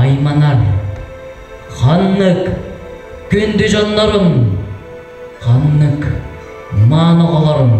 айманан ханнык күндү дьоннорун ханнык мааны оҕолорун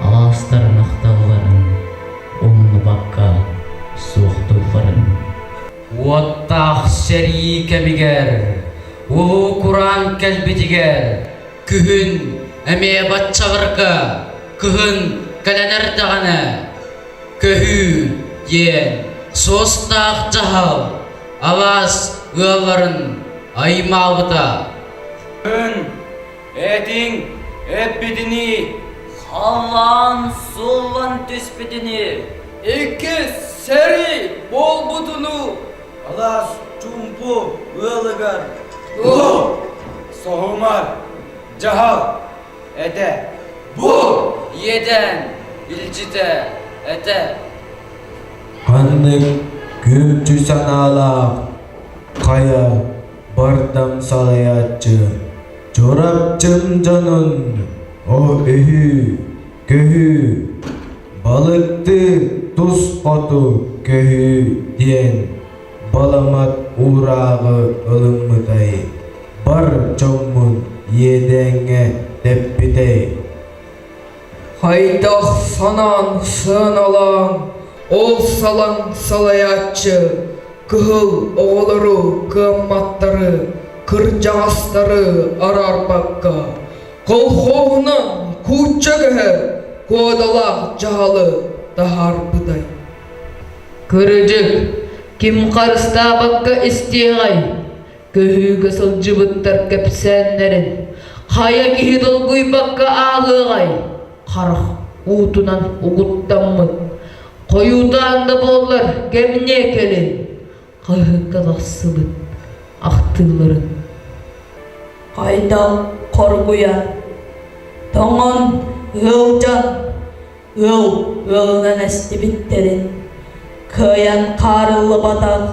алаастарын ахталларын умнубакка суохтуулларын уоттаах сэрии кэмигэр улуу кураан кэлбитигэр күһүн эмиэ баччаларга кыһын кэлэн эрдэҕинэ көһүү диэн суостаах дьаһал алаас ыалларын аймаабыта. Эн этиҥ эппитинии халаан суллан түспүтүнүү икки сэрии буолбутуну алаас чумпу ыалыгар соһумар дьаһал Этэ. Бу иэдээн илдьитэ этэ. Ханнык күндү санаалаах хайа бардам салайааччы Чурапчын дьонун о үһү көһү балыкты тус хоту көһү диэн Баламат уурааҕы ылыммытай, бар дьоммун иэдээҥҥэ тэппитэй Хайдах санаан сыаналаан ол салаҥ салайааччы кыһыл оҕолору кыамматтары кырдьаҕастары араарбакка колхоһунан куучча көһө куодалаах дьаһалы таһаарбытай Кырдьык, ким харыстаабакка истиэҕэй? Көһүүгэ сылдьыбыттар кэпсээннэрин хайа киһи долгуйбакка ааҕыаҕай? Харах уутунан угуттаммыт хойуутаан да буоллар кэмниэ кэлин хаһыакка тахсыбыт ахтыыларын. Хайдах хоргуйар, тоҥон, ыалдьан Ыал ыалынан эстибиттэрин кыайан хаарыллыбатах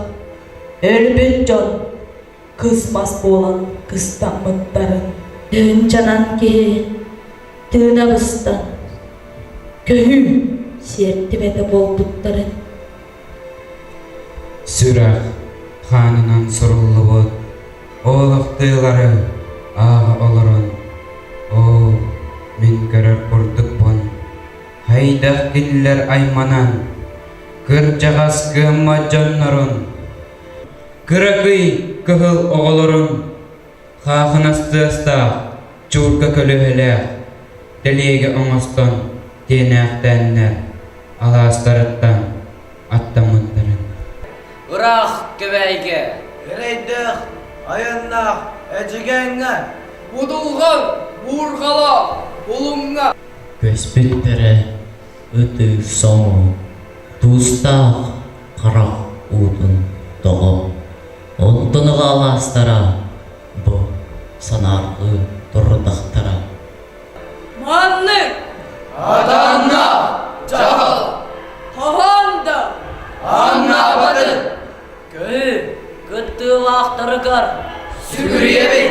өлбүт дьон кыс мас буолан кыстаммыттарын тыынчанан киһи тыына быста көһүү сиэртибэтэ буолбуттарын Сүрэх хаанынан суруллубут олохтуйлары ааҕа олорон оо мин көрөр курдукпун хайдах кинилэр айманан кырдьаҕас кыаммат дьоннорун кыракый кыһыл оҕолорун Хаахынас тыастаах, чуурка көлүөһэлээх, тэлиэгэ оҥостон тиэнээхтээннэр алаастарыттан аттаммыттарын. Ыраах Кэбээйгэ эрэйдээх айаннаах Эдьигээҥҥэ Удулҕан Уурҕалаах Улуҥҥа көспүт бэрэ Ытыы соҥу, Туустаах харах уутун тоҕо онтунуга алаастара бу санаарҕыы турдахтара. Маннык Атанна! Дьаһал! Хаһан да Аннаабатын! кыһыы кыттыылаахтарыгар сүгүрүйэбин!